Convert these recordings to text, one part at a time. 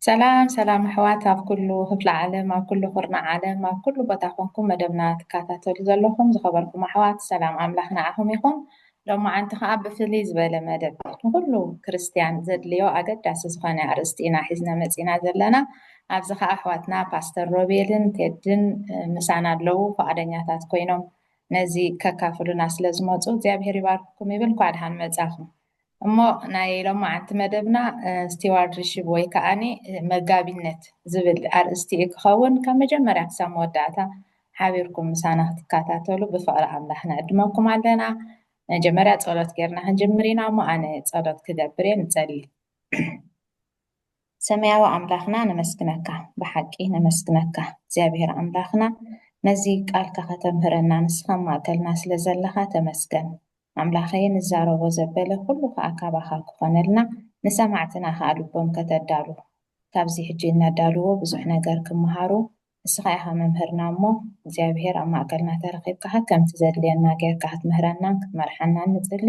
ሰላም ሰላም ኣሕዋት ኣብ ኩሉ ክፍለ ዓለም ኣብ ኩሉ ኩርና ዓለም ኣብ ኩሉ ቦታ ኮንኩም መደብና ትከታተሉ ዘለኹም ዝኸበርኩም ኣሕዋት ሰላም ኣምላኽ ንዓኹም ይኹን ሎማዓንቲ ከኣ ብፍልይ ዝበለ መደብ ንኩሉ ክርስትያን ዘድልዮ ኣገዳሲ ዝኮነ ኣርእስቲ ኢና ሒዝና መጺና ዘለና ኣብዚ ከኣ ኣሕዋትና ፓስተር ሮቤልን ቴድን ምሳና ኣለዉ ፍቃደኛታት ኮይኖም ነዚ ከካፍሉና ስለ ዝመጹ እግዚኣብሄር ይባርክኩም ይብል እንኳዕ ድሓን መጻኹም እሞ ናይ ሎማዓንቲ መደብና ስቲዋርድሺፕ ወይ ከኣ መጋቢነት ዝብል ኣርእስቲ እዩ ክኸውን ካብ መጀመርያ ክሳብ መወዳእታ ሓቢርኩም ምሳና ክትከታተሉ ብፍቕሪ ኣምላኽ ንዕድመኩም ኣለና። መጀመርያ ጸሎት ጌርና ክንጅምር ኢና እሞ ኣነ ጸሎት ክገብር እየ ንጸሊ። ሰማያዊ ኣምላኽና ነመስግነካ ብሓቂ ነመስግነካ እግዚኣብሔር ኣምላኽና ነዚ ቃልካ ከተምህረና ንስኻ ማእከልና ስለ ዘለኻ ተመስገን። ኣምላኸየ ንዛረቦ ዘበለ ኩሉ ከኣ ካባኻ ክኾነልና ንሰማዕትና ከኣ ልቦም ከተዳሉ ካብዚ ሕጂ እነዳልዎ ብዙሕ ነገር ክመሃሩ ንስኻ ኢኻ መምህርና እሞ እግዚኣብሄር ኣብ ማእከልና ተረኺብካ ከምቲ ዘድልየና ጌርካ ክትምህረናን ክትመርሓናን ንጽሊ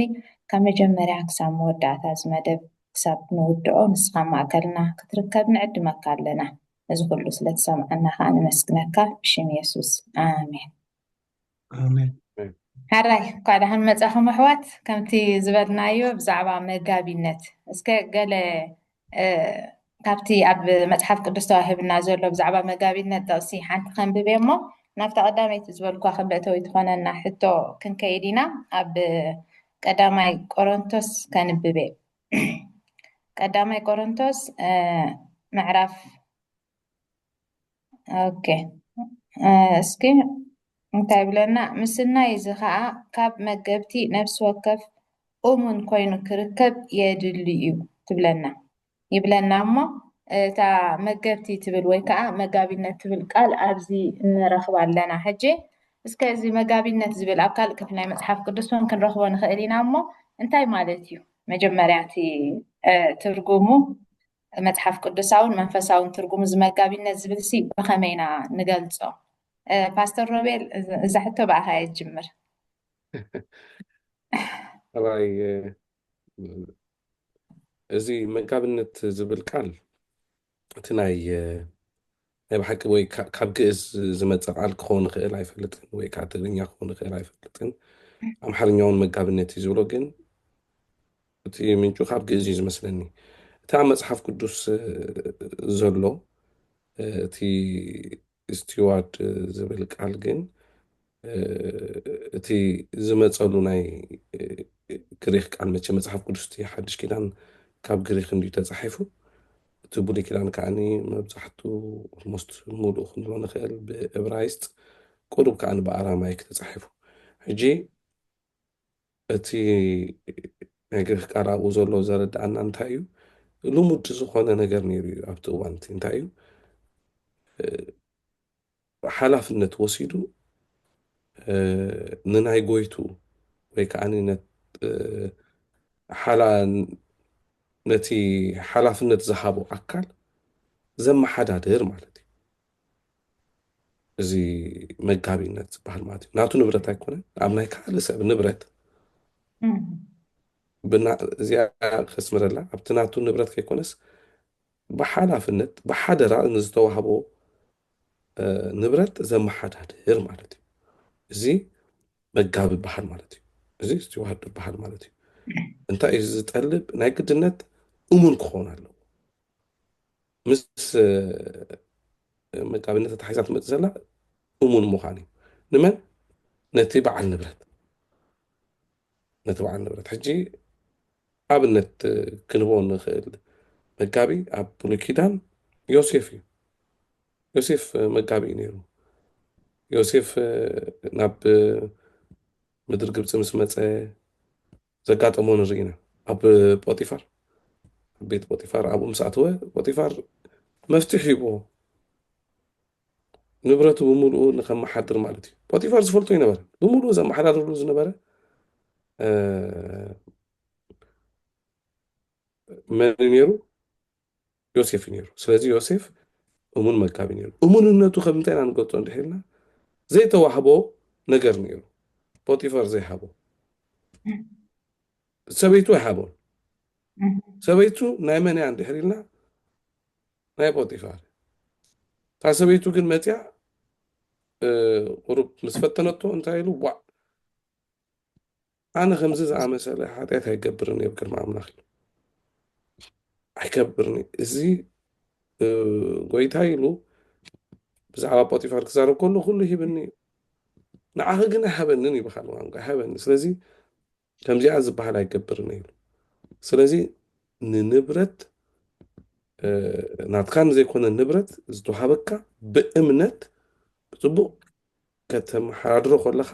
ካብ መጀመርያ ክሳብ መወዳእታ እዚ መደብ ክሳብ ንውድኦ ንስኻ ኣብ ማእከልና ክትርከብ ንዕድመካ ኣለና ነዚ ኩሉ ስለ ትሰምዓና ከኣ ነመስግነካ ብሽም የሱስ ኣሜን። ሐራይ እንኳዕ ደሓን መፃኹም ኣሕዋት ከምቲ ዝበልናዮ ብዛዕባ መጋቢነት እስከ ገለ ካብቲ ኣብ መፅሓፍ ቅዱስ ተዋሂብና ዘሎ ብዛዕባ መጋቢነት ጥቕሲ ሓንቲ ከንብብ እሞ ናብታ ቀዳመይቲ ዝበልኳ ክንበእተዊ ትኾነና ሕቶ ክንከይድ ኢና ኣብ ቀዳማይ ቆሮንቶስ ከንብብ ቀዳማይ ቆሮንቶስ ምዕራፍ ኦኬ እስኪ እንታይ ብለና ምስናይ እዚ ከዓ ካብ መገብቲ ነፍሲ ወከፍ እሙን ኮይኑ ክርከብ የድሊ እዩ ትብለና ይብለና እሞ እታ መገብቲ ትብል ወይ ከዓ መጋቢነት ትብል ቃል ኣብዚ እንረኽባ ኣለና ሕጂ እስከ እዚ መጋቢነት ዝብል ኣብ ካልእ ክፍል ናይ መፅሓፍ ቅዱስ እውን ክንረኽቦ ንኽእል ኢና እሞ እንታይ ማለት እዩ መጀመርያ እቲ ትርጉሙ መጽሓፍ ቅዱሳውን መንፈሳውን ትርጉም እዚ መጋቢነት ዝብል ሲ ብኸመይ ኢና ንገልጾ? ፓስተር ሮቤል እዛ ሕቶ ብኣኻ እየ ዝጅምር። ጠባይ እዚ መጋቢነት ዝብል ቃል እቲ ናይ ናይ ብሓቂ ወይ ካብ ግእዝ ዝመፀ ቃል ክኸውን ይኽእል ኣይፈልጥን ወይ ከዓ ትግርኛ ክኸውን ይኽእል ኣይፈልጥን ኣምሓርኛ እውን መጋብነት እዩ ዝብሎ ግን እቲ ምንጩ ካብ ግእዝ እዩ ዝመስለኒ እቲ ኣብ መፅሓፍ ቅዱስ ዘሎ እቲ ስቲዋርድ ዝብል ቃል ግን እቲ ዝመጸሉ ናይ ግሪኽ ቃል መቸ መጽሓፍ ቅዱስ እቲ ሓድሽ ኪዳን ካብ ግሪኽ እንድዩ ተጻሒፉ እቲ ብሉይ ኪዳን ከዓኒ መብዛሕቱ ኦልሞስት ሙሉእ ክንብሎ ንኽእል ብእብራይስጥ ቁሩብ ከዓኒ ብኣራማይክ ተጻሒፉ ሕጂ እቲ ናይ ግሪኽ ቃል ኣብኡ ዘሎ ዘረድኣና እንታይ እዩ? ልሙድ ዝኾነ ነገር ነይሩ እዩ ኣብቲ እዋን እቲ እንታይ እዩ ሓላፍነት ወሲዱ ንናይ ጎይቱ ወይ ከዓ ነቲ ሓላፍነት ዝሃቦ ኣካል ዘመሓዳድር ማለት እዩ። እዚ መጋቢነት ዝበሃል ማለት እዩ ናቱ ንብረት ኣይኮነን ኣብ ናይ ካልእ ሰብ ንብረት እዚኣ ከስምረላ ኣብቲ ናቱ ንብረት ከይኮነስ ብሓላፍነት ብሓደራ ንዝተዋህቦ ንብረት ዘመሓዳድር ማለት እዩ እዚ መጋቢ በሃል ማለት እዩ እዚ ስትዋርድ በሃል ማለት እዩ እንታይ እዩ ዝጠልብ ናይ ግድነት እሙን ክኸውን ኣለዎ ምስ መጋቢነት ተታሒዛ ትመፅእ ዘላ እሙን ምዃን እዩ ንመን ነቲ በዓል ንብረት ነቲ በዓል ንብረት ሕጂ ኣብነት ክንህቦ ንኽእል መጋቢ ኣብ ብሉይ ኪዳን ዮሴፍ እዩ ዮሴፍ መጋቢ እዩ ነይሩ ዮሴፍ ናብ ምድሪ ግብፂ ምስ መፀ ዘጋጠሞ ንርኢ ኢና ኣብ ጶጢፋር ኣብ ቤት ጶጢፋር ኣብኡ ምስ ኣተወ ጶጢፋር መፍትሕ ሂብዎ ንብረቱ ብምልኡ ንከመሓድር ማለት እዩ ጶጢፋር ዝፈልጦ ይነበረ ብምልኡ ዘመሓዳድርሉ ዝነበረ መን ነይሩ ዮሴፍ ነይሩ። ስለዚ ዮሴፍ እሙን መጋቢ ነይሩ። እሙንነቱ ከም እንታይ ኢና ንገልጾ እንድሕር ኢልና ዘይተዋህቦ ነገር ነይሩ። ፖጢፈር ዘይሃቦ ሰበይቱ ኣይሃቦን። ሰበይቱ ናይ መን እያ እንድሕር ኢልና ናይ ፖጢፋር እታ ሰበይቱ ግን መፅያ ቁሩብ ምስ ፈተነቶ እንታይ ኢሉ ዋዕ ኣነ ከምዚ ዝኣመሰለ ሓጢኣት ኣይገብርን እየ ኣብ ቅድሚ ኣምላኽ ኢሉ። ኣይከብርን እዩ እዚ ጎይታ ኢሉ ብዛዕባ ጶጢፋር ክዛረብ ከሎ ኩሉ ሂብኒ እዩ ንዓኺ ግን ኣይሃበንን እዩ ብካል ቋንቋ ኣይሃበኒ ስለዚ ከምዚኣ ዝበሃል ኣይገብርን እዩ ስለዚ ንንብረት ናትካ ንዘይኮነ ንብረት ዝተዋሃበካ ብእምነት ብፅቡቅ ከተመሓድሮ ከለኻ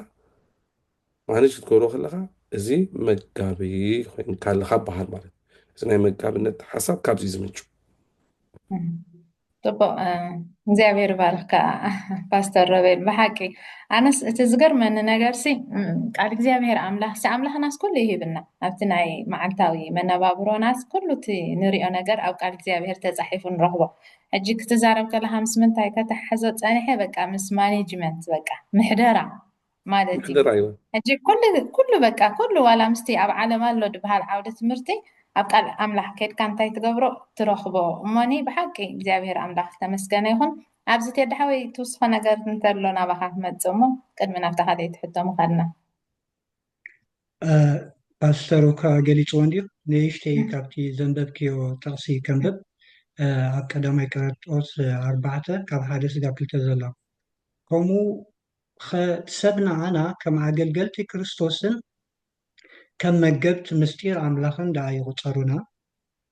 ማኔጅ ክትገብሮ ከለኻ እዚ መጋቢ ኮይንካ ኣለኻ በሃል ማለት እዩ እዚ ናይ መጋብነት ሓሳብ ካብዚ ዝምንጩ ጥቡቅ እግዚኣብሔር ባርክካ ፓስተር ሮቤል ብሓቂ ኣነስ እቲ ዝገርመኒ ነገር ሲ ቃል እግዚኣብሔር ኣምላኽ ሲ ኣምላኽናስ ኩሉ ይህብና ኣብቲ ናይ መዓልታዊ መነባብሮናስ ኩሉ እቲ ንሪኦ ነገር ኣብ ቃል እግዚኣብሔር ተፃሒፉ ንረኽቦ ሕጂ ክትዛረብ ከለካ ምስ ምንታይ ከተሓሕዞ ጸኒሐ በቃ ምስ ማኔጅመንት በቃ ምሕደራ ማለት እዩ ምሕደራ እዮ። ሕጂ ኩሉ ኩሉ በቃ ኩሉ ዋላ ምስቲ ኣብ ዓለም ኣሎ ድበሃል ዓውደ ትምህርቲ ኣብ ቃል ኣምላኽ ከድካ እንታይ ትገብሮ ትረኽቦ እሞኒ ብሓቂ እግዚኣብሄር ኣምላኽ ዝተመስገነ ይኹን ኣብዚ ቴዲ ሓወይ ትውስኾ ነገር እንተሎ ናባኻ ክመጽእ እሞ ቅድሚ ናብታ ካልኣይቲ ሕቶ ምኻድና ፓስተር እኳ ገሊፅዎ እንዲዩ ንእሽተይ ካብቲ ዘንበብክዮ ጥቕሲ ከንብብ ኣብ ቀዳማይ ቀረጦስ ኣርባዕተ ካብ ሓደ ስጋብ ክልተ ዘሎ ከምኡ ሰብ ንዓና ከም ኣገልገልቲ ክርስቶስን ከም መገብቲ ምስጢር ኣምላኽን ደኣ ይቑፀሩና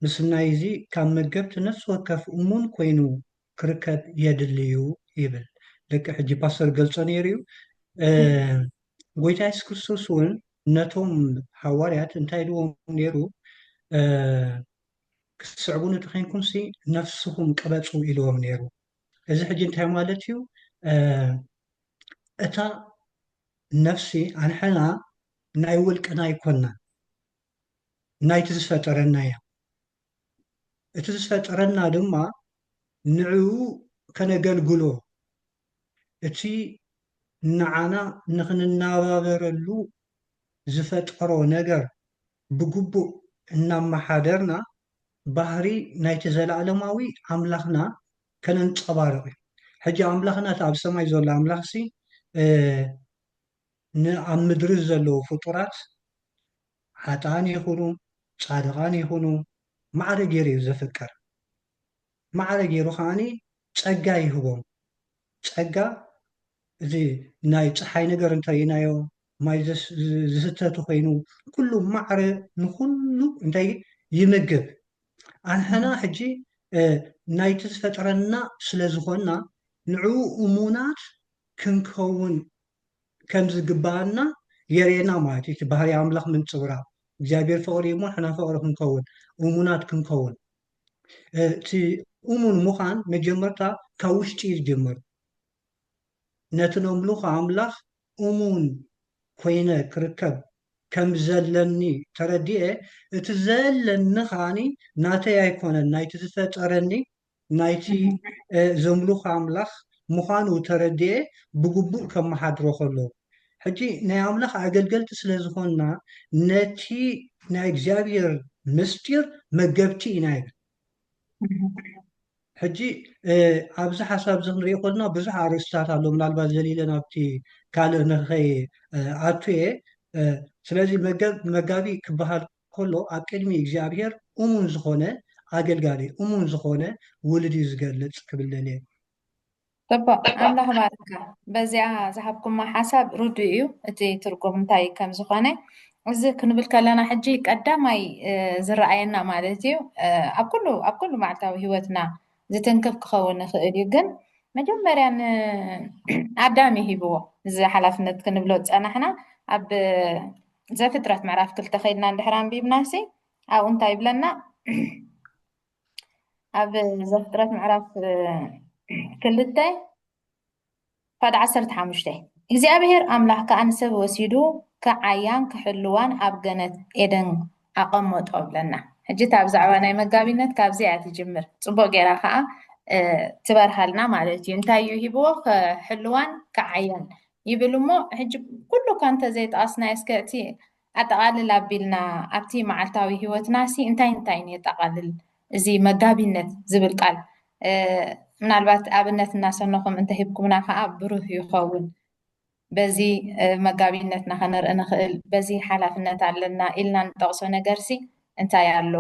ምስናይ እዚ ካብ መገብቲ ነፍሲ ወከፍ እሙን ኮይኑ ክርከብ የድሊ እዩ ይብል ልክዕ ሕጂ ፓስተር ገልጾ ነይሩ እዩ ጎይታ የሱስ ክርስቶስ እውን ነቶም ሃዋርያት እንታይ ኢልዎም ነይሩ ክትስዕቡኒ እንተኮይንኩም ሲ ነፍስኹም ቅበፁ ኢልዎም ነይሩ እዚ ሕጂ እንታይ ማለት እዩ እታ ነፍሲ ኣንሕና ናይ ውልቅና ኣይኮንና ናይቲ ዝፈጠረና እያ እቲ ዝፈጠረና ድማ ንዕኡ ከነገልግሎ እቲ ንዓና ንኽንነባበረሉ ዝፈጠሮ ነገር ብግቡእ እናመሓደርና ባህሪ ናይቲ ዘለኣለማዊ ኣምላኽና ከነንጸባርቕ እዩ። ሕጂ ኣምላኽና እቲ ኣብ ሰማይ ዘሎ ኣምላኽሲ ንኣብ ምድሪ ዘለዉ ፍጡራት ሓጥኣን ይኹኑ ጻድቓን ይኹኑ ማዕረ ጌሩ እዩ ዘፍቅር ማዕረ ጌሩ ከኣ ጸጋ ይህቦም ጸጋ እዚ ናይ ጸሓይ ነገር እንተ ርኢናዮ ማይ ዝስተ ተኾይኑ ኩሉ ማዕረ ንኹሉ እንታይ ይምግብ ኣንሕና ሕጂ ናይቲ ዝፈጠረና ስለ ዝኾንና ንዕኡ እሙናት ክንከውን ከም ዝግብኣና የርእየና ማለት እዩ። እቲ ባህሪ ኣምላኽ ምንጽብራቕ እግዚኣብሔር ፍቕሪ እሞ ንሕና ፍቕሪ ክንከውን እሙናት ክንከውን እቲ እሙን ምዃን መጀመርታ ካብ ውሽጢ እዩ ዝጅምር። ነቲ ነምልኾ ኣምላኽ እሙን ኮይነ ክርከብ ከም ዘለኒ ተረዲኤ እቲ ዘለኒ ከዓኒ ናተይ ኣይኮነን ናይቲ ዝፈጠረኒ ናይቲ ዘምልኾ ኣምላኽ ምዃኑ ተረዲኤ ብግቡእ ከመሓድሮ ከሎ። ሕጂ ናይ ኣምላኽ ኣገልገልቲ ስለ ዝኾንና ነቲ ናይ እግዚኣብሔር ምስጢር መገብቲ ኢና ይብል። ሕጂ ኣብዚ ሓሳብ እዚ ክንሪኦ ከለና ብዙሕ ኣርእስትታት ኣሎ ምናልባት ዘሊለ ናብቲ ካልእ ንኸይኣቱ እየ ስለዚ መጋቢ ክበሃል ከሎ ኣብ ቅድሚ እግዚኣብሄር እሙን ዝኾነ ኣገልጋሊ እሙን ዝኾነ ውሉድ እዩ ዝገልጽ ክብል ደልየ። ጽቡቅ ኣምላኽ ባርካ በዚኣ ዝሃብኩማ ሓሳብ ርዱእ እዩ እቲ ትርጉም እንታይ ከም ዝኾነ እዚ ክንብል ከለና ሕጂ ቀዳማይ ዝረኣየና ማለት እዩ ኣብ ኩሉ ኣብ ኩሉ መዓልታዊ ህይወትና ዝትንክፍ ክኸውን ይኽእል እዩ ግን መጀመርያ ንኣዳም ይሂብዎ እዚ ሓላፍነት ክንብሎ ዝጸናሕና ኣብ ዘፍጥረት ምዕራፍ ክልተ ከይድና እንድሕር ኣንቢብናሲ ኣብኡ እንታይ ይብለና ኣብ ዘፍጥረት ምዕራፍ ክልተ ፋድ ዓሰርተ ሓሙሽተ እግዚኣብሔር ኣምላኽ ከዓ ንሰብ ወሲዱ ክዓያን ክሕልዋን ኣብ ገነት ኤደን ኣቐመጦ ብለና ሕጂ እታ ብዛዕባ ናይ መጋቢነት ካብዚ እያ ትጅምር ፅቡቅ ጌራ ከዓ ትበርሃልና ማለት እዩ እንታይ እዩ ሂብዎ ክሕልዋን ክዓያን ይብል እሞ ሕጂ ኩሉ እኳ እንተ ዘይጠቐስናዮ እስከ እቲ ኣጠቓልል ኣቢልና ኣብቲ መዓልታዊ ህይወትናሲ እንታይ እንታይን የጠቓልል እዚ መጋቢነት ዝብል ቃል ምናልባት ኣብነት እናሰነኹም እንተሂብኩምና ከዓ ብሩህ ይኸውን በዚ መጋቢነትና ከነርኢ ንኽእል በዚ ሓላፍነት ኣለና ኢልና ንጠቕሶ ነገርሲ እንታይ ኣሎ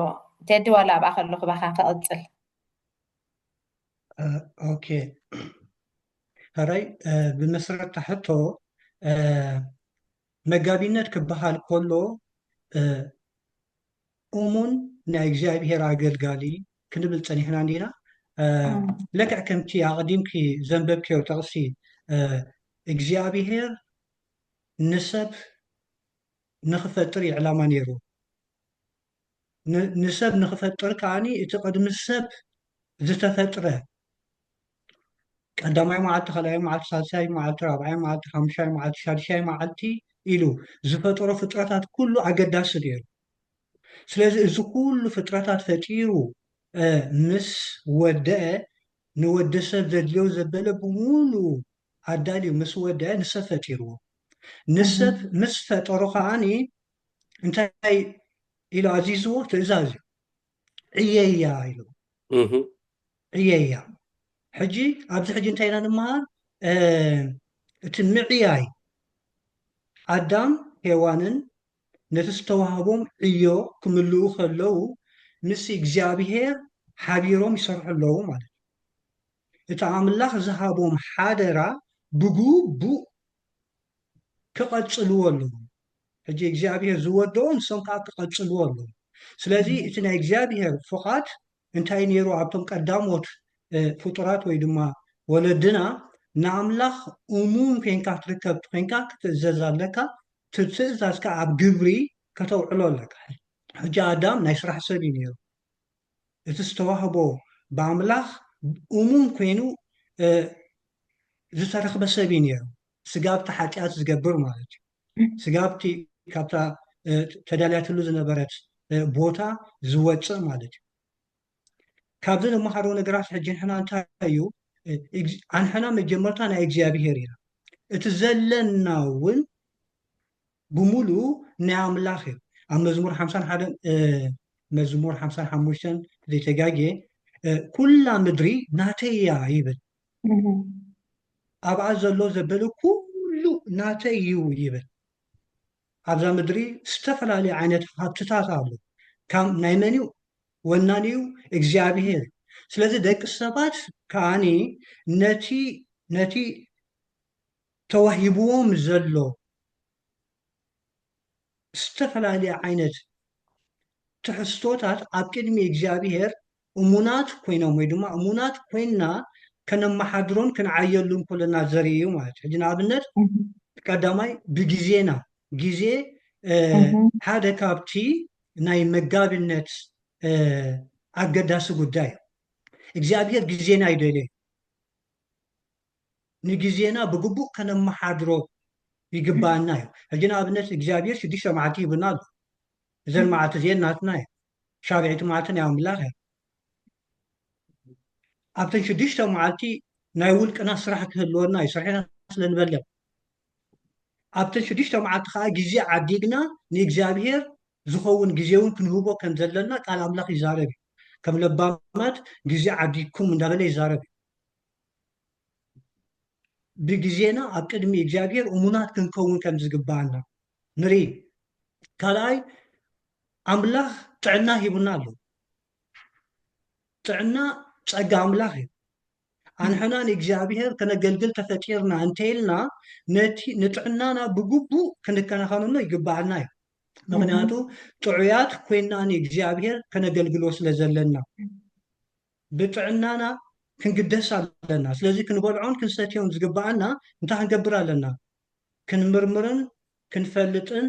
ቴዲ ዋላ ኣብኣ ከለኹ ባኻ ክቕፅል ኦኬ ሕራይ ብመሰረት ሕቶ መጋቢነት ክበሃል ከሎ እሙን ናይ እግዚኣብሄር ኣገልጋሊ ክንብል ፀኒሕና እንዲና ለክዕ ከምቲ ኣቕዲምኪ ዘንበብክዮ ጠቕሲ እግዚኣብሄር ንሰብ ንክፈጥር እዩ ዕላማ ነይሩ ንሰብ ንኽፈጥር ከኣ እቲ ቅድሚ ሰብ ዝተፈጥረ ቀዳማይ መዓልቲ ካልኣይ መዓልቲ ሳልሳይ መዓልቲ ራብዓይ መዓልቲ ሓሙሻይ መዓልቲ ሻድሻይ መዓልቲ ኢሉ ዝፈጠሮ ፍጥረታት ኩሉ ኣገዳሲ ነይሩ ስለዚ እዚ ኩሉ ፍጥረታት ፈጢሩ ምስ ወደአ ንወዲ ሰብ ዘድልዮ ዘበለ ብምሉ ኣዳልዩ ምስ ወደአ ንሰብ ፈጢርዎ ንሰብ ምስ ፈጠሮ ከዓኒ እንታይ ኢሉ ኣዚዝዎ ትእዛዝ እዩ ዕየያ ኢሉ ዕየያ ሕጂ ኣብዚ ሕጂ እንታይ ኢና ንመሃር እቲ ምዕያይ ኣዳም ሄዋንን ነቲ ዝተዋህቦም ዕዮ ክምልኡ ከለዉ ምስ እግዚኣብሄር ሓቢሮም ይሰርሑ ኣለዉ ማለት እዩ እቲ ኣምላኽ ዝሃቦም ሓደራ ብግቡእ ክቐጽልዎ ኣለዎም። ሕጂ እግዚኣብሄር ዝወደኦ ንሶም ከኣ ክቐጽልዎ ኣለዎም። ስለዚ እቲ ናይ እግዚኣብሄር ፍቓድ እንታይ ነይሩ ኣብቶም ቀዳሞት ፍጡራት ወይ ድማ ወለድና ንኣምላኽ እሙን ኴንካ ትርከብ ተዄንካ ክትእዘዝ ኣለካ፣ እቲ ትእዛዝ ከኣ ኣብ ግብሪ ከተውዕሎ ኣለካ። ሕጂ ኣዳም ናይ ስራሕ ሰብ እዩ ነይሩ። እቲ ዝተዋህቦ ብኣምላኽ እሙን ኰይኑ ዝተረኽበ ሰብ እዩ ነይሩ፣ ስጋብ'ቲ ሓጢኣት ዝገብር ማለት እዩ፣ ስጋብ'ቲ ካብታ ተዳልያትሉ ዝነበረት ቦታ ዝወጽእ ማለት እዩ። ካብዚ ንመሃሮ ነገራት ሕጂ ንሕና እንታይ እዩ፣ ኣንሕና መጀመርታ ናይ እግዚኣብሄር ኢና፣ እቲ ዘለና'ውን፣ ብምሉኡ ናይ ኣምላኽ እዩ ኣብ መዝሙር ሓምሳን ሓደን መዝሙር ሓምሳን ሓሙሽተን ዘይተጋግየ ኩላ ምድሪ ናተይ እያ ይብል ኣብኣ ዘሎ ዘበለ ኩሉ ናተይ እዩ ይብል ኣብዛ ምድሪ ዝተፈላለዩ ዓይነት ሃብትታት ኣሎ ካብ ናይ መን እዩ ወናን እዩ እግዚኣብሄር ስለዚ ደቂ ሰባት ከዓኒ ነቲ ነቲ ተዋሂብዎም ዘሎ ዝተፈላለየ ዓይነት ትሕዝቶታት ኣብ ቅድሚ እግዚኣብሄር እሙናት ኮይኖም ወይ ድማ እሙናት ኮይንና ከነመሓድሮን ክንዓየሉን ከሎና ዘርኢ እዩ ማለት እዩ። ሕጂ ንኣብነት ቀዳማይ ብግዜና ግዜ ሓደ ካብቲ ናይ መጋቢነት ኣገዳሲ ጉዳይ እዩ። እግዚኣብሄር ግዜና ይደልዮ እዩ። ንግዜና ብግቡእ ከነመሓድሮ ይግበኣና እዩ። ሕጂ ንኣብነት እግዚኣብሄር ሽዱሽተ መዓልቲ ሂቡና ኣሎ። እዘን መዓልቲ እዚኤን ናትና እየን። ሻብዒቲ መዓልቲ ናይ ኣምላኽ እያ። ኣብተን ሽዱሽተ መዓልቲ ናይ ውልቅና ስራሕ ክህልወና እዩ፣ ስርሒና ስለ ንበልዕ። ኣብተን ሽዱሽተ መዓልቲ ከኣ ግዜ ዓዲግና ንእግዚኣብሄር ዝኸውን ግዜ እውን ክንህቦ ከም ዘለና ቃል ኣምላኽ ይዛረብ እዩ። ከም ለባማት ግዜ ዓዲግኩም እንዳበለ ይዛረብ እዩ። ብግዜና ኣብ ቅድሚ እግዚኣብሔር እሙናት ክንከውን ከም ዝግብኣና ንርኢ። ካልኣይ ኣምላኽ ጥዕና ሂቡና ኣሎ። ጥዕና ጸጋ ኣምላኽ እዩ። ኣንሕና ንእግዚኣብሔር ከነገልግል ተፈጢርና እንተይልና ነቲ ንጥዕናና ብግቡእ ክንከናኸነሉ ይግብኣና እዩ። ምክንያቱ ጥዑያት ኮይና ንእግዚኣብሔር ከነገልግሎ ስለ ዘለና። ብጥዕናና ክንግደስ ኣለና። ስለዚ ክንበልዖን ክንሰትዮን ዝግበኣና እንታይ ክንገብር ኣለና? ክንምርምርን ክንፈልጥን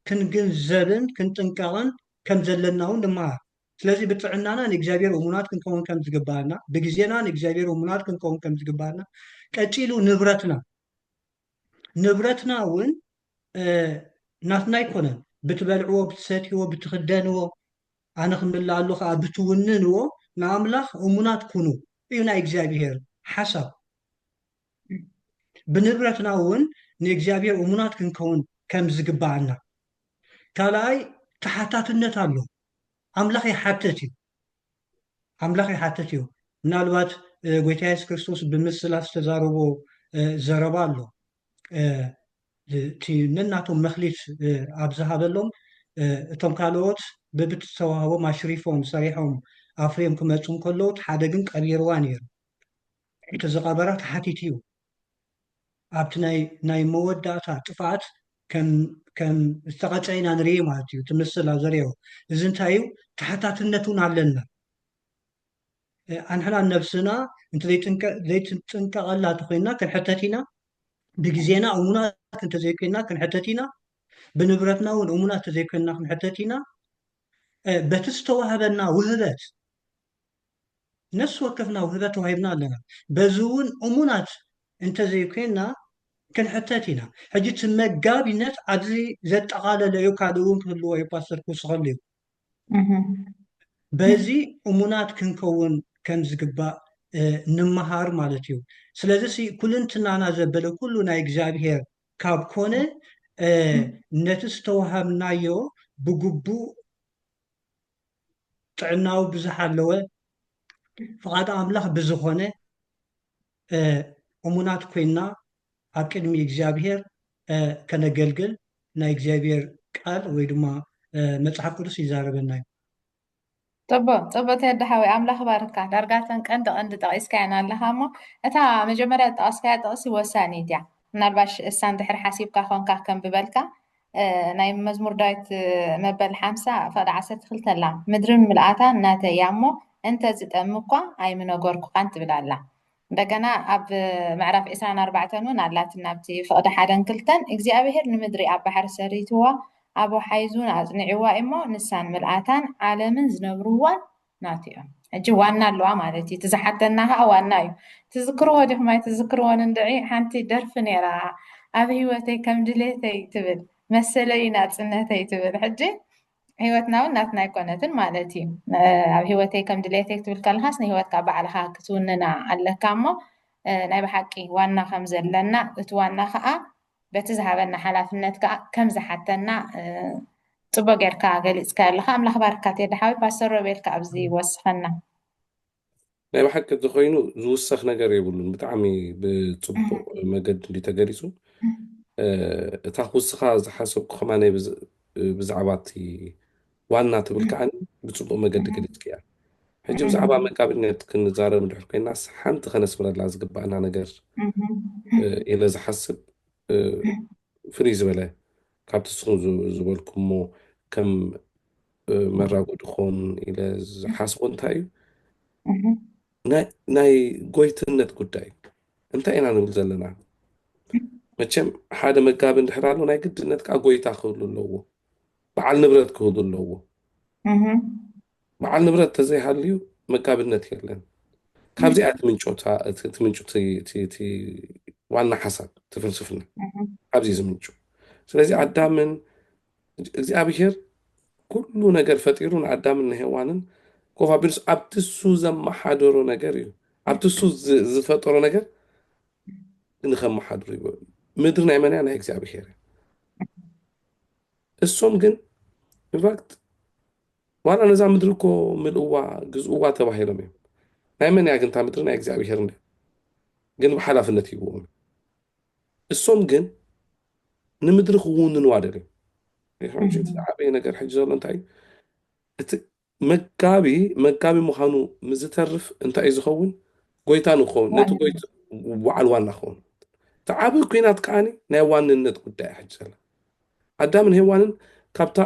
ክንግንዘብን ክንጥንቀቕን ከም ዘለናውን ንመሃር። ስለዚ ብጥዕናና ንእግዚኣብሔር እሙናት ክንከውን ከም ዝግበኣና፣ ብግዜና ንእግዚኣብሔር እሙናት ክንከውን ከም ዝግበኣና፣ ቀጺሉ ንብረትና፣ ንብረትና እውን ናትና ኣይኮነን፣ ብትበልዕዎ፣ ብትሰትይዎ፣ ብትኽደንዎ፣ ኣነ ክምልኣሉ ከኣ ብትውንንዎ ንኣምላኽ እሙናት ኩኑ እዩ ናይ እግዚኣብሄር ሓሳብ። ብንብረትና እውን ንእግዚኣብሄር እሙናት ክንከውን ከም ዝግብኣና። ካልኣይ ተሓታትነት ኣሎ። ኣምላኽ ይሓትት እዩ። ኣምላኽ ይሓትት እዩ። ምናልባት ጐይታ የሱስ ክርስቶስ ብምስላ ዝተዛረቦ ዘረባ ኣሎ። እቲ ነናቶም መክሊት ኣብ ዝሃበሎም እቶም ካልኦት በብቲ ዝተዋህቦም ኣሽሪፎም ሰሪሖም ኣፍርዮም ክመጹ እንከለዉ እቲ ሓደ ግን ቀቢርዋ ነይሩ። እቲ ዝቐበራ ተሓቲቱ'ዩ። ኣብቲ ናይ ናይ መወዳእታ ጥፍኣት ከም ከም ዝተቐጽዐ ኢና ንርኢ ማለት እዩ። እቲ ምስላ ዘርእዮ እዚ እንታይ እዩ ተሓታትነት እውን ኣለና። ኣንሕና ነብስና እንተዘይትንጥንቀቐላ እንተኾይንና ክንሕተት ኢና፣ ብግዜና እሙናት እንተዘይኮይንና ክንሕተት ኢና፣ ብንብረትና እውን እሙናት እንተዘይኮይንና ክንሕተት ኢና፣ በቲ ዝተዋህበና ውህበት ነፍሲ ወከፍና ውህበት ተዋሂብና ኣለና፣ በዚ እውን እሙናት እንተዘይኮይንና ክንሕተት ኢና። ሕጂ እቲ መጋቢነት ኣብዚ ዘጠቓለለ እዩ፣ ካልእ እውን ክህልዎ እዩ ፓስተር ክውስኸሉ እዩ። በዚ እሙናት ክንከውን ከም ዝግባእ ንመሃር ማለት እዩ። ስለዚሲ ኩልንትናና ዘበለ ኩሉ ናይ እግዚኣብሔር ካብ ኮነ ነቲ ዝተወሃብናዮ ብግቡእ ጥዕናኡ ብዝሓለወ ፍቓድ ኣምላኽ ብዝኾነ እሙናት ኮይንና ኣብ ቅድሚ እግዚኣብሄር ከነገልግል ናይ እግዚኣብሄር ቃል ወይ ድማ መጽሓፍ ቅዱስ ይዛረበና እዩ። ጽቡቅ ጽቡቅ ቴዲ ሓወይ ኣምላኽ ይባርካ ዳርጋ እተን ቀንዲ ቀንዲ ጠቂስካየን ኣለኻ እሞ እታ መጀመርያ ዝጠቀስካያ ጥቅሲ ወሳኒት እያ ምናልባሽ እሳን ድሕሪ ሓሲብካ ኮንካ ከንብበልካ ናይ መዝሙር ዳዊት መበል ሓምሳ ፍቕዲ ዓሰርተ ክልተ ኣላ ምድርን ምልኣታን ናተይ እያ እሞ እንተ ዝጠሚ እኳ ኣይምነገርኩኻን ትብል ኣላ እንደገና ኣብ ምዕራፍ ዕስራን ኣርባዕተን እውን ኣላትና ኣብቲ ፍቕዲ ሓደን ክልተን እግዚኣብሄር ንምድሪ ኣብ ባሕሪ ሰሪትዋ ኣብ ወሓይዝ እውን ኣጽኒዕዋ እሞ ንሳን ምልኣታን ዓለምን ዝነብርዋን ናቱ እዮም ሕጂ ዋና ኣለዋ ማለት እዩ እቲ ዝሓተና ከዓ ዋና እዩ ትዝክርዎ ዲኹም ኣይትዝክርዎን እንድዒ ሓንቲ ደርፊ ነይራ ኣብ ህይወተይ ከም ድሌተይ ትብል መሰለይ ናፅነተይ ትብል ሕጂ ህይወትና እውን ናትና ኣይኮነትን ማለት እዩ ኣብ ህይወተይ ከም ድሌተይ ክትብል ከለካስ ንህይወትካ ባዕልካ ክትውንና ኣለካ እሞ ናይ ብሓቂ ዋና ከም ዘለና እቲ ዋና ከዓ በቲ ዝሃበና ሓላፍነት ከኣ ከም ዝሓተና ጽቡቅ ጌርካ ገሊጽካዮ ኣለኻ ኣምላኽ ይባርካ ቴዲ ሓወይ ፓስተር ሮቤል ከኣ ኣብዚ ወስኸና። ናይ ብሓቂ እንተኾይኑ ዝውሰኽ ነገር የብሉን ብጣዕሚ ብጽቡቕ መገዲ እንድዩ ተገሊጹ እታ ክውስኻ ዝሓሰብኩ ከማነይ ብዛዕባ እቲ ዋና ትብል ከኣኒ ብጽቡቕ መገዲ ገሊጽክያ። ሕጂ ብዛዕባ መጋቢነት ክንዛረብ እንድሕር ኮይናስ ሓንቲ ከነስምረላ ዝግባእና ነገር ኢለ ዝሓስብ ፍልይ ዝበለ ካብቲ ንስኹም ዝበልኩሞ ከም መራጎዲ ክኸውን ኢለ ዝሓስቦ እንታይ እዩ ናይ ጎይትነት ጉዳይ እንታይ ኢና ንብል ዘለና መቸም ሓደ መጋቢ እንድሕር ኣሎ ናይ ግድነት ከዓ ጎይታ ክህሉ ኣለዎ በዓል ንብረት ክህሉ ኣለዎ። በዓል ንብረት ተዘይሃልዩ መጋቢነት የለን። ካብዚኣ ትምንጮታ እቲ ትምንጩ እቲ ዋና ሓሳብ እቲ ፍልስፍና ኣብዚ ዝምንጩ ስለዚ ኣዳምን እግዚኣብሄር ኩሉ ነገር ፈጢሩ ንኣዳምን ንሄዋንን ኮፋቢሩስ ኣብቲ እሱ ዘመሓደሮ ነገር እዩ ኣብቲ እሱ ዝፈጠሮ ነገር ንከመሓድሩ ይበሉ ምድሪ ናይ መን እያ ናይ እግዚኣብሄር እያ እሶም ግን ኢንፋክት ዋላ ነዛ ምድሪ እኮ ምልእዋ ግዝእዋ ተባሂሎም እዮም። ናይ መን እያ ግን እታ ምድሪ ናይ እግዚኣብሄር እንዲ ግን ብሓላፍነት ይብዎም እሶም ግን ንምድሪ ክውንንዋ ደልዮም ዝዓበየ ነገር ሕጂ ዘሎ እንታይ እቲ መጋቢ መጋቢ ምዃኑ ምስ ዝተርፍ እንታይ እዩ ዝኸውን? ጐይታ ንክኸውን፣ ነቲ ዋና ጐይታ በዓል ዋና ክኸውን። እቲ ዓብዪ ኲናት ከኣ ናይ ዋንነት ጉዳይ እያ ሕጂ ዘላ። ኣዳምን ሄዋንን ካብታ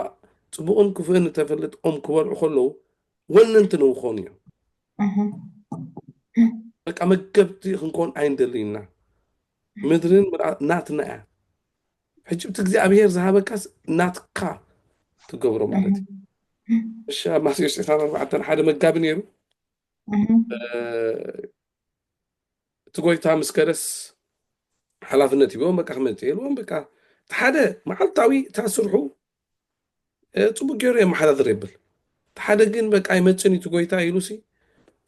ጽቡቕን ክፉእን እተፈልጥ ኦም ክበልዑ ከለዉ ወነንቲ ንክኾኑ እዮም። እህ። በቃ መገብቲ ክንከውን ኣይንደልን ኢና። ምድርን ምልኣ ናትና እያ። ዕጭብቲ እግዚኣብሔር ዝሃበካስ ናትካ ትገብሮ ማለት እዩ እሺ ኣብ ማቴዎስ 24 ሓደ መጋቢ ነይሩ እቲ ጎይታ ምስ ከደስ ሓላፍነት ይበም በቃ ክመፅእ የልዎም በቃ እቲ ሓደ መዓልታዊ እታ ስርሑ ጽቡቅ ጌሩ የመሓዳድር የብል እቲ ሓደ ግን በቃ ኣይመጽን እዩ እቲ ጎይታ ኢሉሲ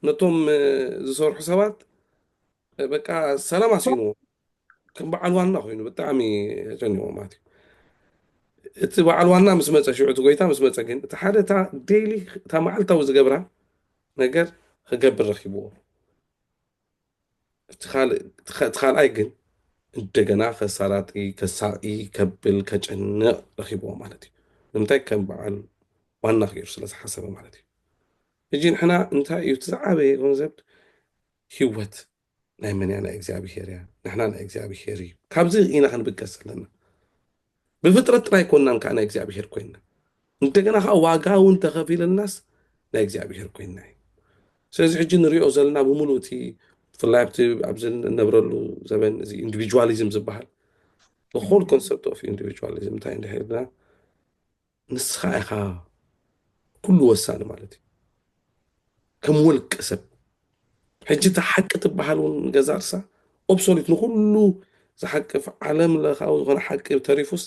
ነቶም ዝሰርሑ ሰባት በቃ ሰላም ኣስኢንዎ ከም በዓል ዋና ኮይኑ ብጣዕሚ ጨኒቆ ማለት እዩ እቲ በዓል ዋና ምስ መፀ ሽዑ እቲ ጎይታ ምስ መፀ ግን እቲ ሓደ እታ ዴይሊ እታ መዓልታዊ ዝገብራ ነገር ክገብር ረኪብዎ እቲ ካልኣይ ግን እንደገና ከሳላጢ ከሳቂ ከብል ከጨንቕ ረኺብዎ ማለት እዩ ንምንታይ ከም በዓል ዋና ክይሩ ስለ ዝሓሰበ ማለት እዩ እጂ ንሕና እንታይ እዩ እቲ ዝዓበየ ገንዘብ ህይወት ናይ መን እያ ናይ እግዚኣብሄር እያ ንሕና ናይ እግዚኣብሄር እዩ ካብዚ ኢና ክንብገስ ዘለና ብፍጥረት ጥራይ ኮናን ከኣ ናይ እግዚኣብሔር ኮይና እንደገና ከኣ ዋጋ እውን ተኸፊልናስ ናይ እግዚኣብሔር ኮይና እዩ ስለዚ ሕጂ ንሪኦ ዘለና ብምሉእ እቲ ብፍላይ ኣብቲ ኣብዚ እነብረሉ ዘበን እዚ ኢንዲቪጁዋሊዝም ዝበሃል ሆል ኮንሰፕት ኦፍ ኢንዲቪጁዋሊዝም እንታይ እንድሕርና ንስኻ ኢኻ ኩሉ ወሳኒ ማለት እዩ ከም ወልቀ ሰብ ሕጂ እታ ሓቂ ትበሃል እውን ገዛ ርሳ ኦብሶሊት ንኩሉ ዝሓቅፍ ዓለም ለኻዊ ዝኾነ ሓቂ ተሪፉስ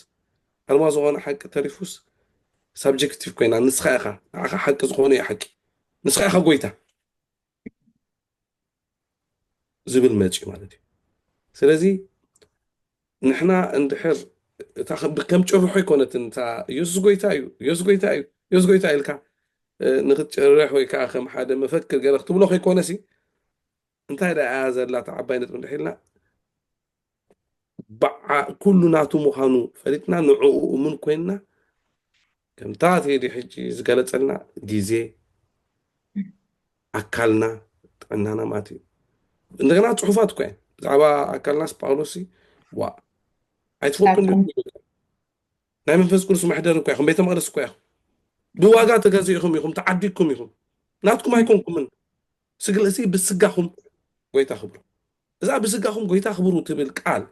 ኣልማ ዝኾነ ሓቂ ተሪፉስ ሳብጀክቲቭ ኮይና ንስኻ ኢኻ ንዓኻ ሓቂ ዝኾነ እዩ ሓቂ ንስኻ ኢኻ ጎይታ ዝብል መጺኡ ማለት እዩ ስለዚ ንሕና እንድሕር እታ ከም ጭርሖ ኣይኮነትን እታ ኢየሱስ ጎይታ እዩ ኢየሱስ ጎይታ እዩ ኢየሱስ ጎይታ ኢልካ ንክትጭርሕ ወይ ከዓ ከም ሓደ መፈክር ገይረ ክትብሎ ከይኮነሲ እንታይ ደኣ እያ ዘላ እታ ዓባይ ነጥቢ እንድሕር ኢልና ባዓ ኩሉ ናቱ ምዃኑ ፈሊጥና ንዕኡ እሙን ኮይንና ከምታ ቴዲ ሕጂ ዝገለጸልና ግዜ ኣካልና ጥዕናና ማለት እዩ እንደገና ፅሑፋት እኳ እየን ብዛዕባ ኣካልናስ ጳውሎስ ዋ ኣይትፈልጡን ናይ መንፈስ ቅዱስ መሕደር እኳ ኢኹም ቤተ መቅደስ እኳ ኢኹም ብዋጋ ተገዚእኹም ኢኹም ተዓዲግኩም ኢኹም ናትኩም ኣይኮንኩምን ስግለሲ ብስጋኹም ጎይታ ክብሩ እዛ ብስጋኹም ጎይታ ኣኽብሩ ትብል ቃል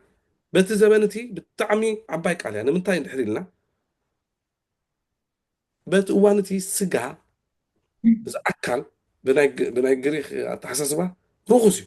በቲ ዘበን እቲ ብጣዕሚ ዓባይ ቃል እያ ንምንታይ እንድሕር ኢልና በቲ እዋን እቲ ስጋ እዚ ኣካል ብናይ ግሪክ ኣተሓሳስባ ርኹስ እዩ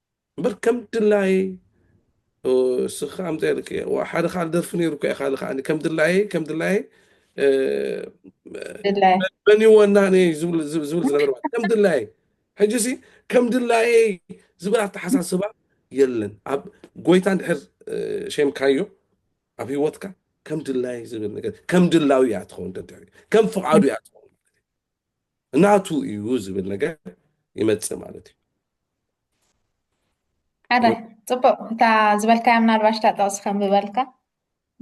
እምበር ከም ድላየይ እስኺ ከኣ ኣምጽያ ደቂ እየ ዋእ ሓደ ካልእ ደርፊ ነይሩ እኮ ኢካ ከኣ ከም ድላየይ ከም ድላየይ ድላየ በኒዎ እና እየ ዝብል ዝብል ዝነበረ ማለት ከም ድላየይ ሕጂ ሲ ከም ድላየይ ዝብል ኣተሓሳስባ የለን ኣብ ጎይታ እንድሕር ሸምካዮ ኣብ ህይወትካ ከም ድላየይ ዝብል ነገር ከም ድላዩ እያ ትኸውን ደድሕሪ ከም ፍቓዱ እያ ትኸውን ናቱ እዩ ዝብል ነገር ይመፅእ ማለት እዩ። ሓደ ፅቡቅ እታ ዝበልካያ ምናልባሽ እታ ጥቕሲ ከምብበልካ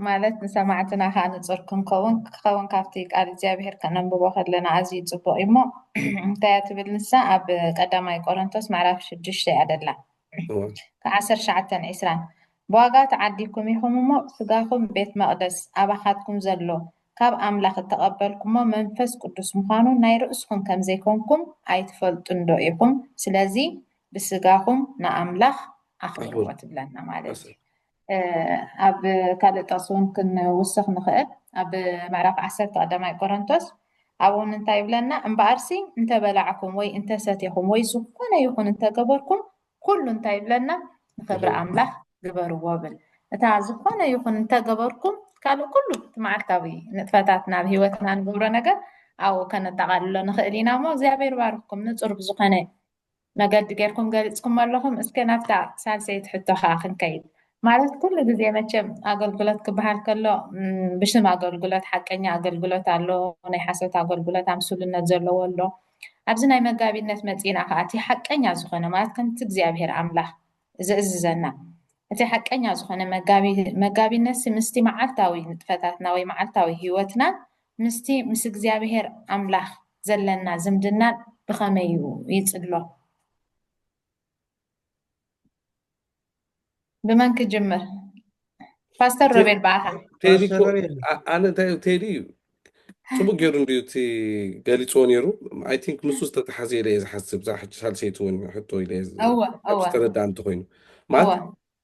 ማለት ንሰማዕትና ከዓ ንፁር ክንከውን ክኸውን ካብቲ ቃል እግዚኣብሄር ከነንብቦ ከለና ኣዝዩ ፅቡቅ እዩ እሞ እንታይ እያ ትብል ንሳ ኣብ ቀዳማይ ቆሮንቶስ ምዕራፍ ሽዱሽተ እያ ደላ ሩት ዓሰርተ ትሽዓተ ዕስራ ብዋጋ ተዓዲግኩም ኢኹም እሞ፣ ሥጋኹም ቤት መቕደስ ኣባኻትኩም ዘሎ ካብ ኣምላኽ እተቐበልኩሞ መንፈስ ቅዱስ ምዃኑ ናይ ርእስኹም ከም ዘይኮንኩም ኣይትፈልጡንዶ ኢኹም? ስለዚ ብሥጋኹም ንኣምላኽ ኣኽብርዎ ትብለና ማለት እዩ። ኣብ ካልእ ጥቕሲ እውን ክንውስኽ ንኽእል ኣብ ምዕራፍ ዓሰርተ ቀዳማይ ቆረንቶስ ኣብኡ እውን እንታይ ይብለና እምበኣርሲ እንተበላዕኩም ወይ እንተሰቴኹም ወይ ዝኾነ ይኹን እንተገበርኩም ኩሉ እንታይ ይብለና ንክብሪ ኣምላኽ ግበርዎ ብል እታ ዝኾነ ይኹን እንተገበርኩም ካልእ ኩሉ እቲ መዓልታዊ ንጥፈታት ናብ ሂወትና ንገብሮ ነገር ኣብኡ ከነጠቓልሎ ንኽእል ኢና እሞ እግዚኣብሔር ባርኽኩም ንፁር ብዝኾነ መገዲ ጌርኩም ገሊጽኩሞ ኣለኹም። እስከ ናብታ ሳልሰይቲ ሕቶ ከኣ ክንከይድ። ማለት ኩሉ ግዜ መቸም ኣገልግሎት ክበሃል ከሎ ብሽም ኣገልግሎት ሓቀኛ ኣገልግሎት ኣሎ፣ ናይ ሓሶት ኣገልግሎት ኣምስሉነት ዘለዎ ኣሎ። ኣብዚ ናይ መጋቢነት መጺእና ከኣ እቲ ሓቀኛ ዝኾነ ማለት ከምቲ እግዚኣብሄር ኣምላኽ ዚእዝዘና። እቲ ሓቀኛ ዝኾነ መጋቢነትሲ ምስቲ መዓልታዊ ንጥፈታትና ወይ መዓልታዊ ህይወትናን ምስቲ ምስ እግዚኣብሔር ኣምላኽ ዘለና ዝምድናን ብኸመይ እዩ ይጽሎ? ብመን ክጅምር? ፓስተር ሮቤል በኣኻ ቴዲ እኮ- ፓስተር ሮቤል። ኣ- ኣነ እንታይ እዩ ቴዲ ፅቡቅ ገይሩ እንድዩ እቲ ገሊፅዎ ነይሩ ኣይ ቲንክ ምስ ዝተተሓዘ ኢለ እየ ዝሓስብ እዛ ሕጂ ሳልሰይቲ እውን ሕቶ ኢለ እየ ዝ- እወ ካብ እወ ዝተረዳእ እንተኮይኑ እወ ማለት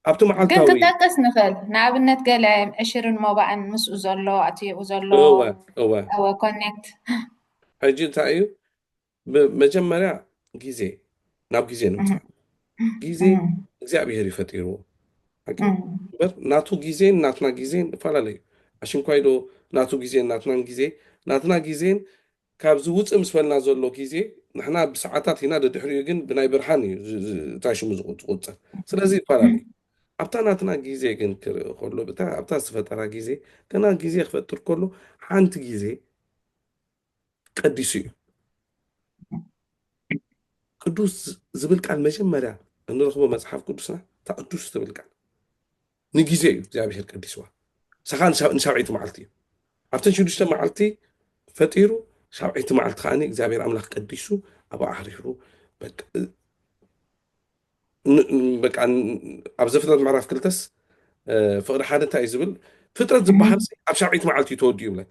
ኣብቲ ግን መዓልታዊ ክንጠቅስ ንኽእል ንኣብነት ገለ ዕሽርን ሞባእን ምስኡ ዘሎ ኣትየኡ ዘሎ እወ እወ እወ ኮኔክት ሕጂ እንታይ እዩ መጀመርያ ግዜ ናብ ግዜ ንምፃእ ግዜ እግዚኣብሄር እዩ ፈጢርዎ በር ናቱ ግዜን ናትና ግዜን እፈላለዩ ኣሽንኳይ ዶ ናቱ ግዜን ናትናን ግዜ ናትና ግዜን ካብዚ ውፅእ ምስ በልና ዘሎ ግዜ ንሕና ብሰዓታት ኢና ደድሕሪኡ ግን ብናይ ብርሃን እዩ እንታይ ሽሙ ዝቁፅር ስለዚ ይፈላለዩ ኣብታ ናትና ግዜ ግን ክርኢ ከሎ ኣብታ ዝተፈጠራ ግዜ ገና ግዜ ክፈጥር ከሎ ሓንቲ ግዜ ቀዲሱ እዩ። ቅዱስ ዝብል ቃል መጀመርያ እንረኽቦ መፅሓፍ ቅዱስና እታ ቅዱስ ትብል ቃል ንግዜ እዩ እግዚኣብሄር ቀዲስዋ ሳኻ ንሳብዐይቲ መዓልቲ እዩ ኣብተን ሽዱሽተ መዓልቲ ፈጢሩ ሳብዐይቲ መዓልቲ ከዓ እግዚኣብሄር ኣምላኽ ቀዲሱ ኣብ ኣሕሪሩ በቃ ኣብ ዘፍጥረት ምዕራፍ ክልተስ ፍቅሪ ሓደ እንታይ እዩ ዝብል ፍጥረት ዝበሃል ኣብ ሳብዐይቲ መዓልቲ እዩ ተወዲኡ ይብለካ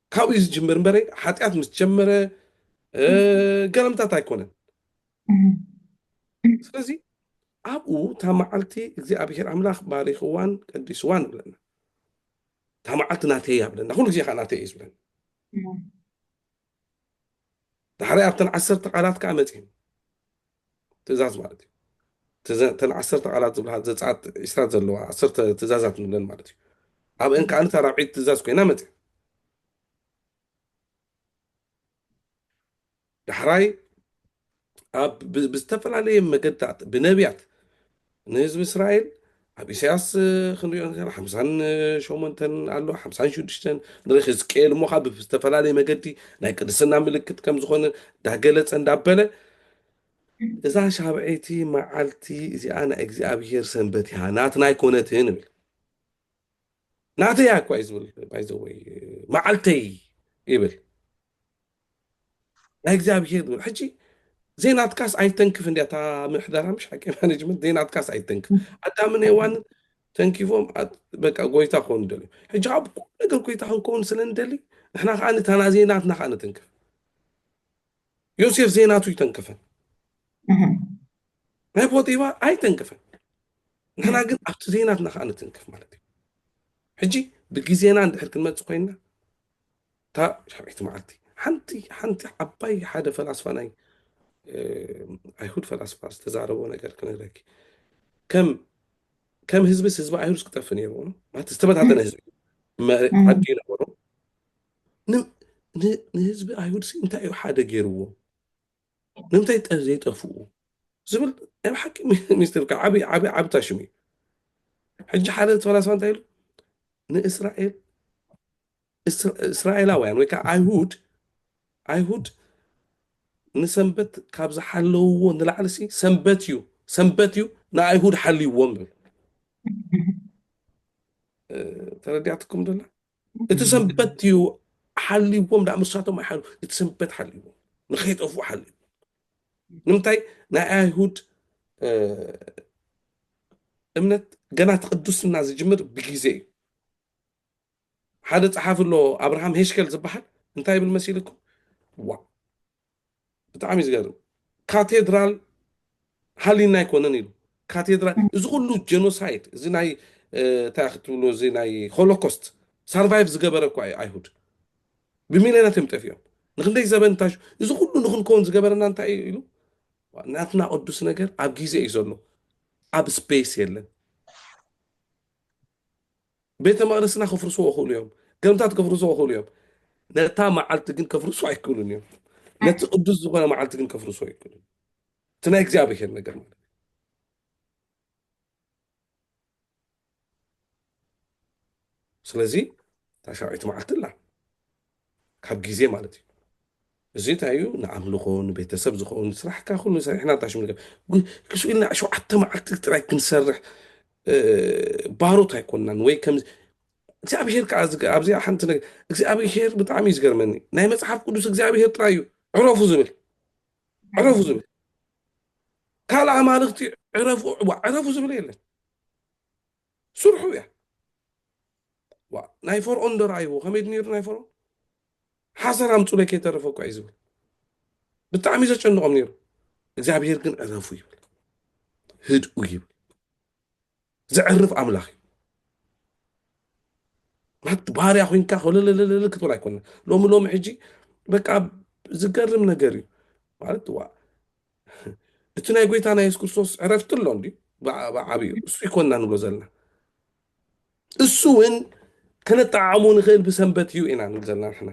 ካብኡ እዩ ዝጅምር እምበረ ሓጢኣት ምስ ጀመረ ገረምታት ኣይኮነን ስለዚ ኣብኡ እታ መዓልቲ እግዚኣብሄር ኣምላኽ ባሪኽዋን ቀዲስዋን ይብለና እታ መዓልቲ ናተይ እያ ብለና ኩሉ ግዜ ከዓ ናተይ እዩ ዝብለና ዳሕራይ ኣብተን ዓሰርተ ቃላት ከዓ መፅን ትእዛዝ ማለት እዩ። ትእዛ እተን ዓሰርተ ቃላት ዝብልሃ ዘጸኣት ዕስራ ዘለዋ ዓሰርተ ትእዛዛት ንብለን ማለት እዩ። ኣብአን ከኣ እታ ራብዐይቲ ትእዛዝ ኮይና መጽ ዳሕራይ ኣብ ብ- ብዝተፈላለየ መገድታት ብነቢያት ንህዝቢ እስራኤል ኣብ ኢሳያስ ክንሪኦ ዘለና ሓምሳን ሸሞንተን ኣሎ ሓምሳን ሽዱሽተን ንሪክ ህዝቅኤል እሞ ካብ ዝተፈላለየ መገዲ ናይ ቅድስና ምልክት ከም ዝኾነ እንዳገለጸ እንዳበለ እዛ ሻብዐይቲ መዓልቲ እዚኣ ናይ እግዚኣብሄር ሰንበት እያ ናትና ኣይኮነትን ይብል ናተይ እያ እኳ እዩ ዝብል ባይዘወይ መዓልተይ ይብል ናይ እግዚኣብሄር ንብል ሕጂ ዘይናትካስ ኣይተንክፍ እንዲያ እታ ምሕደራ ምሽ ሓቂ ማኔጅመንት ዘይናትካስ ኣይተንክፍ ኣዳምን ሄዋን ተንኪፎም በቃ ጎይታ ክኾኑ ደልዩ ሕጂ ካብ ኩሉ ነገር ጎይታ ክንከውን ስለ ንደሊ ንሕና ከዓ ንታና ዘይናትና ከዓ ንትንክፍ ዮሴፍ ዘይናቱ ይተንክፈን ናይ ፖጢባ ኣይተንክፈን ንሕና ግን ኣብቲ ዘይናትና ከዓ ንትንክፍ ማለት እዩ ሕጂ ብግዜና እንድሕር ክንመፅእ ኮይንና እታ ሻብዒቲ መዓልቲ ሓንቲ ሓንቲ ዓባይ ሓደ ፈላስፋ ናይ ኣይሁድ ፈላስፋ ዝተዛረቦ ነገር ክነግረኪ ከም ከም ህዝብስ ህዝቢ ኣይሁድ ክጠፍ ነይርዎ ማለት ዝተበታተነ ህዝቢ ዓዲ ነበሮ ንህዝቢ ኣይሁድ ሲ እንታይ እዩ ሓደ ገይርዎ ንምንታይ ዘይጠፍኡ ዝብል ናይ ብሓቂ ሚኒስትር ዓብ ዓብ ዓብ ታሽሙ እዩ ሕጂ ሓደ ተፈላስፋ እንታይ ኢሉ ንእስራኤል እስራኤላውያን ወይ ከኣ ኣይሁድ ኣይሁድ ንሰንበት ካብ ዝሓለውዎ ንላዕሊሲ ሰንበት እዩ ሰንበት እዩ ንኣይሁድ ሓልይዎም ይብል ተረዲኣትኩም ደላ እቲ ሰንበት እዩ ሓልይዎም ዳ ምሳቶም ኣይሓሉ እቲ ሰንበት ሓልይዎም ንከይጠፍኡ ሓልይዎም ንምንታይ ናይ ኣይሁድ እምነት ገና እቲ ቅዱስና ዝጅምር ብግዜ እዩ ሓደ ጸሓፊ ኣሎ ኣብርሃም ሄሽከል ዝብሃል እንታይ ይብል መሲልኩም ዋእ ብጣዕሚ እዩ ዝገርም ካቴድራል ሃሊና ኣይኮነን ኢሉ ካቴድራል እዚ ኩሉ ጀኖሳይድ እዚ ናይ እንታይ ክትብሉ እዚ ናይ ሆሎኮስት ሳርቫይቭ ዝገበረ እኳ እዩ ኣይሁድ ብሚልዮናት እዮም ጠፊኦም ንክንደይ ዘበን እንታይ እዚ ኩሉ ንክንከውን ዝገበረና እንታይ እዩ ኢሉ ናትና ቅዱስ ነገር ኣብ ግዜ እዩ ዘሎ ኣብ ስፔስ የለን ቤተ መቕደስና ከፍርስዎ ይኽእሉ እዮም፣ ገምታት ከፍርስዎ ይኽእሉ እዮም፣ ነታ መዓልቲ ግን ከፍርስዎ ኣይክእሉን እዮም። ነቲ ቅዱስ ዝኾነ መዓልቲ ግን ከፍርስዎ ኣይክእሉን። እቲ ናይ እግዚኣብሔር ነገር ማለት ስለዚ ታሻውዒት መዓልቲ ኣላ ካብ ግዜ ማለት እዩ እዚ እንታይ እዩ ንኣምልኾ ንቤተሰብ ዝኸውን ስራሕካ ኩሉ ሰሪሕና እንታይ ሽም ንገር ጉ- ክሱ ኢልና ሸውዓተ መዓልቲ ጥራይ ክንሰርሕ እ፣ ባሮት ኣይኮንናን ወይ ከም እግዚኣብሄር ከዓ ዝገ- ኣብዚኣ ሓንቲ ነገር እግዚኣብሄር ብጣዕሚ እዩ ዝገርመኒ ናይ መፅሓፍ ቅዱስ እግዚኣብሄር ጥራይ እዩ ዕረፉ ዝብል ዕረፉ ዝብል ካልእ ኣማልኽቲ ዕረፉ ዋ፣ ዕረፉ ዝብል የለን ስርሑ እያ ዋ ናይ ፈርኦን ዶ ረኣይዎ ከመይ ድ ነይሩ ናይ ፈርኦን ሓሰር ኣምፁለይ ከይተረፈ እኳ እዩ ዝብል ብጣዕሚ እዩ ዘጨንቖም ነይሩ እግዚኣብሄር ግን ዕረፉ ይብል ህድኡ ይብል ዘዕርፍ ኣምላኽ እዩ ማለት ባርያ ኮንካ ኮለለለለለ ክትብል ኣይኮነ ሎሚ ሎሚ ሕጂ በቃ ዝገርም ነገር እዩ ማለት ዋ እቲ ናይ ጎይታና የሱስ ክርስቶስ ዕረፍቲ ኣሎ እንዲ ብዓብዩ እሱ ይኮና ንብሎ ዘለና እሱ እውን ከነጠዓዕሙ ንኽእል ብሰንበት እዩ ኢና ንብል ዘለና ንሕና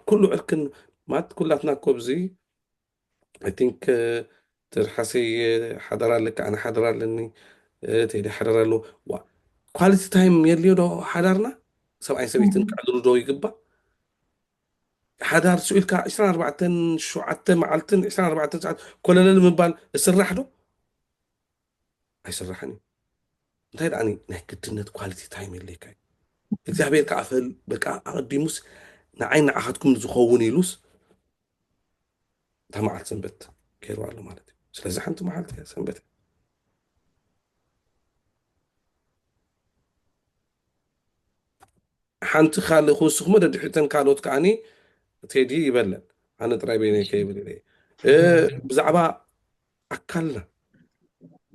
ኩሉ ዕርክን ማለት ኩላትና ኮብዚ ኣይ ቲንክ ትርሓሰይ ሓደራ ኣለኪ ኣነ ሓደራ ኣለኒ ቴዲ ሓደራ ኣለዎ ዋ ኳሊቲ ታይም የድልዮ ዶ ሓዳርና ሰብኣይን ሰበይትን ክዕልሉ ዶ ይግባእ ሓዳር ስዑ ኢልካ 24 ሸውዓተ መዓልትን 24 ሰዓት ኮለለል ምባል እስራሕ ዶ ኣይስራሕን እዩ እንታይ ደኣ ናይ ግድነት ኳሊቲ ታይም የድልየካ እዩ እግዚኣብሔር ከዓ በቃ ኣቐዲሙስ ንዓይ ንዓኻትኩም ዝኸውን ኢሉስ እታ መዓልቲ ሰንበት ገይሩ ኣሎ ማለት እዩ ስለዚ ሓንቲ መዓልቲ እያ ሰንበት እያ ሓንቲ ካልእ ክውስኹሞ ደድሕተን ካልኦት ከዓኒ ቴዲ ይበለን ኣነ ጥራይ በይነ ከይብል ብዛዕባ ኣካልና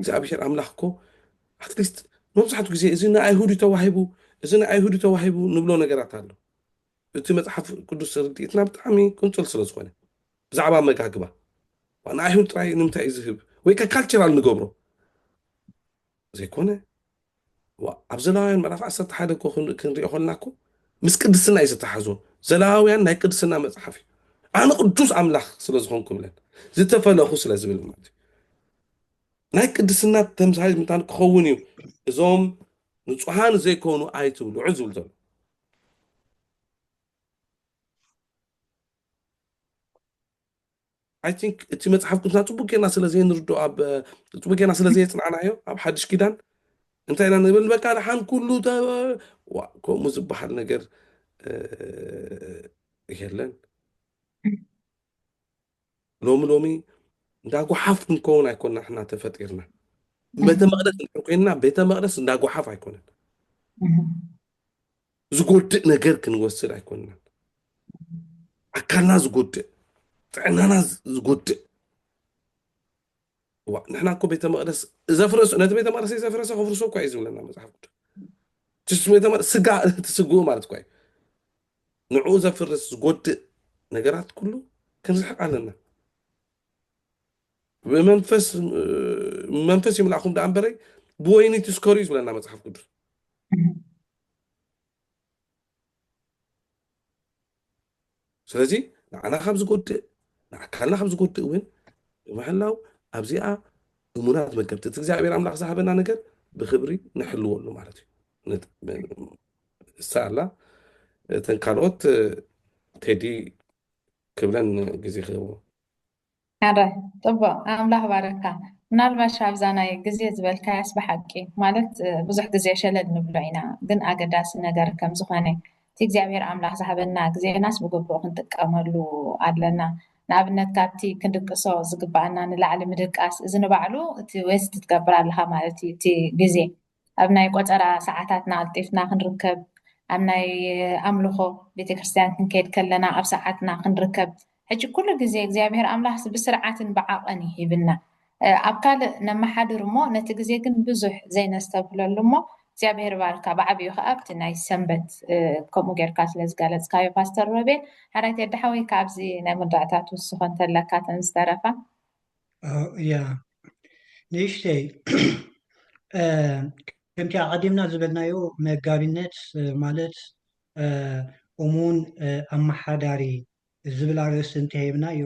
እግዚኣብሔር ኣምላኽ እኮ ኣትሊስት መብዛሕትኡ ግዜ እዚ ንኣይሁድ ተዋሂቡ እዚ ንኣይሁድ ተዋሂቡ ንብሎ ነገራት ኣሎ እቲ መጽሓፍ ቅዱስ ርድኢትና ብጣዕሚ ቁንጽል ስለ ዝኾነ ብዛዕባ ኣመጋግባ ንኣይሁድ ጥራይ ንምንታይ እዩ ዝህብ ወይ ከ ካልቸራል ንገብሮ ዘይኮነ ኣብ ዘላውያን ምዕራፍ ዓሰርተ ሓደ እኮ ክንሪኦ ከለና እኮ ምስ ቅድስና እዩ ዝተሓዞ ዘላውያን ናይ ቅድስና መፅሓፍ እዩ ኣነ ቅዱስ ኣምላኽ ስለ ዝኾንኩ ብለን ዝተፈለኹ ስለ ዝብል ማለት እዩ ናይ ቅድስና ተምሳሌት ምታን ክኸውን እዩ እዞም ንፁሃን ዘይኮኑ ኣይትብልዑ ዝብል ዘሎ ኣይ ቲንክ እቲ መፅሓፍ ቅዱስና ፅቡቅ ጌርና ስለ ዘይንርዶ ኣብ ፅቡቅ ጌርና ስለ ዘየፅናዕናዮ ኣብ ሓድሽ ኪዳን እንታይ ኢና ንብል በቃ ድሓን ኩሉ ከምኡ ዝበሃል ነገር የለን ሎሚ ሎሚ እንዳ ጓሓፍ ክንከውን ኣይኮና ሕና ተፈጢርና ቤተ መቅደስ እንድሕር ኮይንና ቤተ መቅደስ እንዳ ጓሓፍ ኣይኮነን ዝጎድእ ነገር ክንወስድ ኣይኮንናን ኣካልና ዝጎድእ ጥዕናና ዝጎድእ እዋ ንሕና እኮ ቤተ መቅደስ ዘፍረሱ ነቲ ቤተ መቅደስ ዘፍረሰ ከፍርሶ እኳ እዩ ዝብለና መፅሓፍ ቅዱስ ስጋ እቲ ስግኡ ማለት እኳ እዩ ንዕኡ ዘፍርስ ዝጎድእ ነገራት ኩሉ ክንርሕቕ ኣለና። ብመንፈስ ይምላእኹም ደኣ እምበረይ ብወይኒ ትስከሩ እዩ ዝብለና መፅሓፍ ቅዱስ። ስለዚ ንዓና ካብ ዝጎድእ ንኣካልና ካብ ዝጎድእ እውን ብምሕላው ኣብዚኣ እሙናት መገብቲ እቲ እግዚኣብሔር ኣምላኽ ዝሃበና ነገር ብክብሪ ንሕልወሉ ማለት እዩ። ንሳ ኣላ እተን ካልኦት ቴዲ ክብለን ግዜ ክህቦ። ኣረ ጽቡቅ ኣምላኽ ባረካ ምናልባሽ ኣብዛ ናይ ግዜ ዝበልካያስ ብሓቂ ማለት ብዙሕ ግዜ ሸለል ንብሎ ኢና ግን ኣገዳሲ ነገር ከም ዝኮነ እቲ እግዚኣብሄር ኣምላኽ ዝሃበና ግዜናስ ብግቡእ ክንጥቀመሉ ኣለና ንኣብነት ካብቲ ክንድቅሶ ዝግባኣና ንላዕሊ ምድቃስ እዚ ንባዕሉ እቲ ዌስት ትገብር ኣለካ ማለት እዩ እቲ ግዜ ኣብ ናይ ቆጸራ ሰዓታትና ቀልጢፍና ክንርከብ፣ ኣብ ናይ ኣምልኾ ቤተክርስትያን ክንከይድ ከለና ኣብ ሰዓትና ክንርከብ፣ ሕጂ ኩሉ ግዜ እግዚኣብሔር ኣምላኽ ብስርዓትን ብዓቐን እዩ ሂብና። ኣብ ካልእ ነመሓድር እሞ ነቲ ግዜ ግን ብዙሕ ዘይነስተብህለሉ እሞ እግዚኣብሔር ይባርካ ብዓቢኡ ከኣ ኣብቲ ናይ ሰንበት ከምኡ ጌርካ ስለ ዝገለጽካዮ ፓስተር ሮቤል። ሓራይ ቴዲ ሓወይ ካብዚ ናይ መወዳእታ ትውስኾ እንተለካ እተን ዝተረፋ። ንእሽተይ ከምቲ ኣቐዲምና ዝበልናዮ መጋቢነት ማለት እሙን ኣመሓዳሪ ዝብል ኣርእስቲ እንተሂብናዮ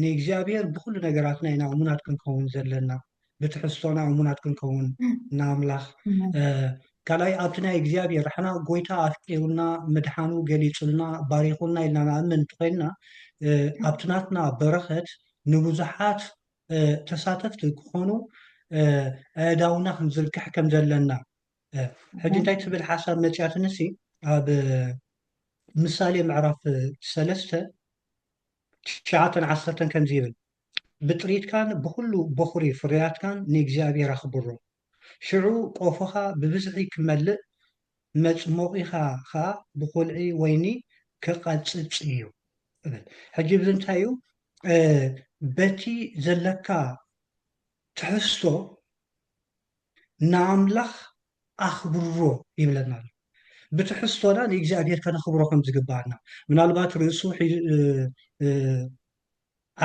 ንእግዚኣብሔር ብኹሉ ነገራትና ኢና እሙናት ክንከውን ዘለና። ብትሕዝቶና እሙናት ክንከውን ንኣምላኽ ካልኣይ ኣብቲ ናይ እግዚኣብሔር ሕና ጎይታ ኣፍቂሩና ምድሓኑ ገሊጹልና ባሪኹና ኢልና ንኣምን እንተኮይንና ኣብቲ ናትና በረኸት ንብዙሓት ተሳተፍቲ ክኾኑ ኣእዳውና ክንዝርግሕ ከም ዘለና ሕጂ እንታይ ትብል ሓሳብ መፅያትንሲ ኣብ ምሳሌ ምዕራፍ ሰለስተ ትሽዓተን ዓሰርተን ከምዚ ይብል ብጥሪትካን ብዅሉ በዅሪ ፍርያትካን ንእግዚኣብሄር ኣኽብሮ። ሽዑ ቆፎኻ ብብዝሒ ኪመልእ፣ መጽሞቒኻ ኸኣ ብዅልዒ ወይኒ ኪቐጽጽ እዩ እብል። ሕጂ እዚ እንታይ እዩ? በቲ ዘለካ ትሕዝቶ ንኣምላኽ ኣኽብሮ ይብለና ኣሎ። ብትሕዝቶና ንእግዚኣብሄር ከነኽብሮ ከም ዝግብኣና፣ ምናልባት ርእሱ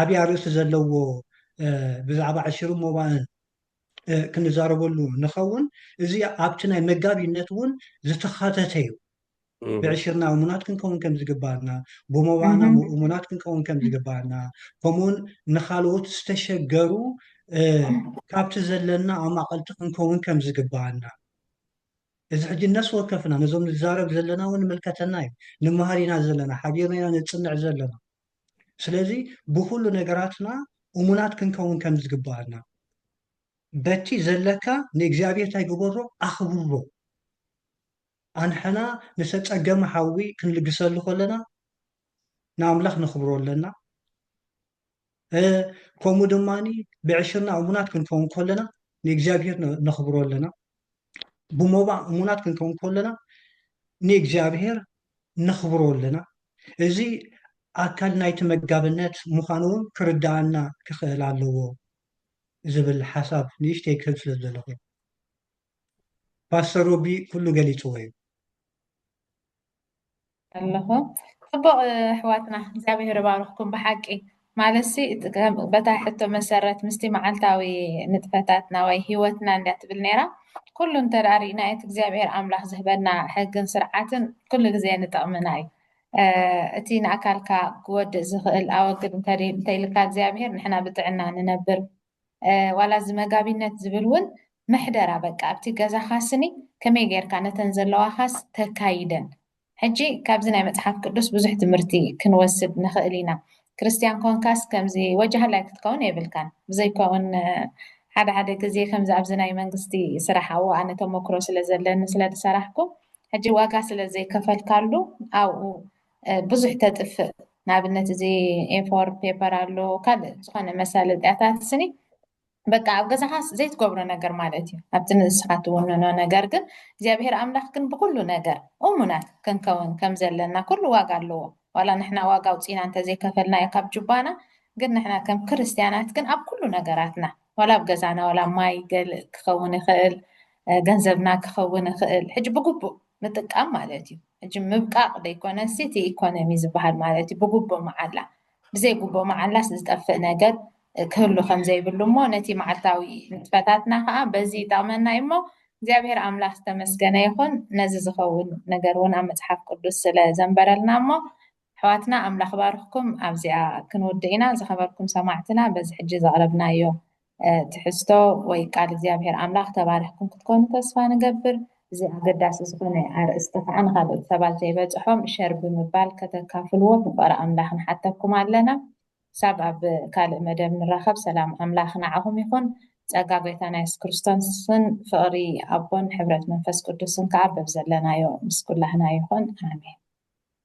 ዓብይ ኣርእስቲ ዘለዎ ብዛዕባ ዕሽርን ሞባእን ክንዛረበሉ ንኸውን። እዚ ኣብቲ ናይ መጋቢነት እውን ዝተኻተተ እዩ። ብዕሽርና እሙናት ክንከውን ከም ዝግባእና፣ ብሞባእና እሙናት ክንከውን ከም ዝግባእና፣ ከምኡውን ንካልኦት ዝተሸገሩ ካብቲ ዘለና ኣማቐልቲ ክንከውን ከም ዝግባእና እዚ ሕጂ ነፍሲ ወከፍና ነዞም ንዛረብ ዘለና እውን ንምልከተና እዩ። ንመሃር ኢና ዘለና፣ ሓቢርና ኢና ነጽንዕ ዘለና። ስለዚ ብኹሉ ነገራትና እሙናት ክንከውን ከም ዝግብኣና በቲ ዘለካ ንእግዚኣብሔር እንታይ ግበሮ ኣኽብሮ ኣንሕና ንተጸገመ ሓዊ ክንልግሰሉ ከለና ንኣምላኽ ነኽብሮ ኣለና ከምኡ ድማ ብዕሽርና እሙናት ክንከውን ከለና ንእግዚኣብሔር ነኽብሮ ኣለና ብሞባእ እሙናት ክንከውን ከለና ንእግዚኣብሔር ነኽብሮ ኣለና እዚ ኣካል ናይቲ መጋብነት ምዃኑ እውን ክርዳኣና ክኽእል ኣለዎ ዝብል ሓሳብ ንእሽተይ ክህብ ስለ ዘለኹ ፓስተር ሮቢ ኩሉ ገሊፅዎ እዩ ኣለኹ ጽቡቕ ኣሕዋትና እግዚኣብሔር ይባርኽኩም ብሓቂ ማለትሲ በታ ሕቶ መሰረት ምስቲ መዓልታዊ ንጥፈታትና ወይ ሂወትና እንዳ ትብል ነይራ ኩሉ እንተ ርኢና እቲ እግዚኣብሔር ኣምላኽ ዝህበና ሕግን ስርዓትን ኩሉ ግዜ ንጠቕምና እዩ እቲ ንኣካልካ ክወድእ ዝኽእል ኣወግድ እንተኢልካ እግዚኣብሔር ንሕና ብጥዕና ንነብር ዋላ እዚ መጋቢነት ዝብል ውን ምሕደራ በቃ ኣብቲ ገዛኻ ስኒ ከመይ ጌርካ ነተን ዘለዋኻስ ተካይደን ሕጂ ካብዚ ናይ መጽሓፍ ቅዱስ ብዙሕ ትምህርቲ ክንወስድ ንኽእል ኢና ክርስትያን ኮንካስ ከምዚ ወጃህላይ ክትከውን የብልካን ብዘይ ኮውን ሓደ ሓደ ግዜ ከምዚ ኣብዚ ናይ መንግስቲ ስራሕ ኣብኡ ኣነ ተመክሮ ስለ ዘለኒ ስለ ዝሰራሕኩ ሕጂ ዋጋ ስለ ዘይከፈልካሉ ኣብኡ ብዙሕ ተጥፍእ ንኣብነት እዚ ኤፎር ፔፐር ኣሎ ካልእ ዝኾነ መሳለጥያታት ስኒ በቃ ኣብ ገዛኻስ ዘይትገብሮ ነገር ማለት እዩ ኣብቲ ንስኻ ትውንኖ ነገር ግን እግዚኣብሄር ኣምላኽ ግን ብኩሉ ነገር እሙናት ክንከውን ከም ዘለና ኩሉ ዋጋ ኣለዎ ዋላ ንሕና ዋጋ ኣውፂና እንተዘይከፈልናዮ ካብ ጁባና ግን ንሕና ከም ክርስትያናት ግን ኣብ ኩሉ ነገራትና ዋላ ኣብ ገዛና ዋላ ማይ ገልእ ክኸውን ይኽእል ገንዘብና ክኸውን ይኽእል ሕጂ ብግቡእ ምጥቃም ማለት እዩ ሕጂ ምብቃቅ ደይኮነ ሲ እቲ ኢኮኖሚ ዝባሃል ማለት እዩ ብጉቦ ማዓላ ብዘይ ጉቦ ማዓላስ ዝጠፍእ ነገር ክህሉ ከምዘይብሉ እሞ ነቲ ማዓልታዊ ንጥፈታትና ካኣ በዚ ይጠቅመና እዩ እሞ እግዚኣብሔር ኣምላክ ዝተመስገነ ይኩን ነዚ ዝከውን ነገር እውን ኣብ መጽሓፍ ቅዱስ ስለ ዘንበረልና እሞ ኣሕዋትና ኣምላኽ ባርኽኩም ኣብዚኣ ክንውድእ ኢና ዝኸበርኩም ሰማዕትና በዚ ሕጂ ዘቕረብናዮ ትሕዝቶ ወይ ቃል እግዚኣብሔር ኣምላኽ ተባሪኽኩም ክትኮኑ ተስፋ ንገብር እዚ ኣገዳሲ ዝኾነ ኣርእስቲ ከዓ ንካልኦት ሰባት ዘይበፅሖም ሸር ብምባል ከተካፍልዎ ፍቕሪ ኣምላኽ ንሓተኩም ኣለና ክሳብ ኣብ ካልእ መደብ ንራኸብ ሰላም ኣምላኽ ንዓኹም ይኹን ጸጋ ጎይታና የሱስ ክርስቶስን ፍቕሪ ኣቦን ሕብረት መንፈስ ቅዱስን ከዓ በብዘለናዮ ምስ ኩላህና ይኹን ኣሜን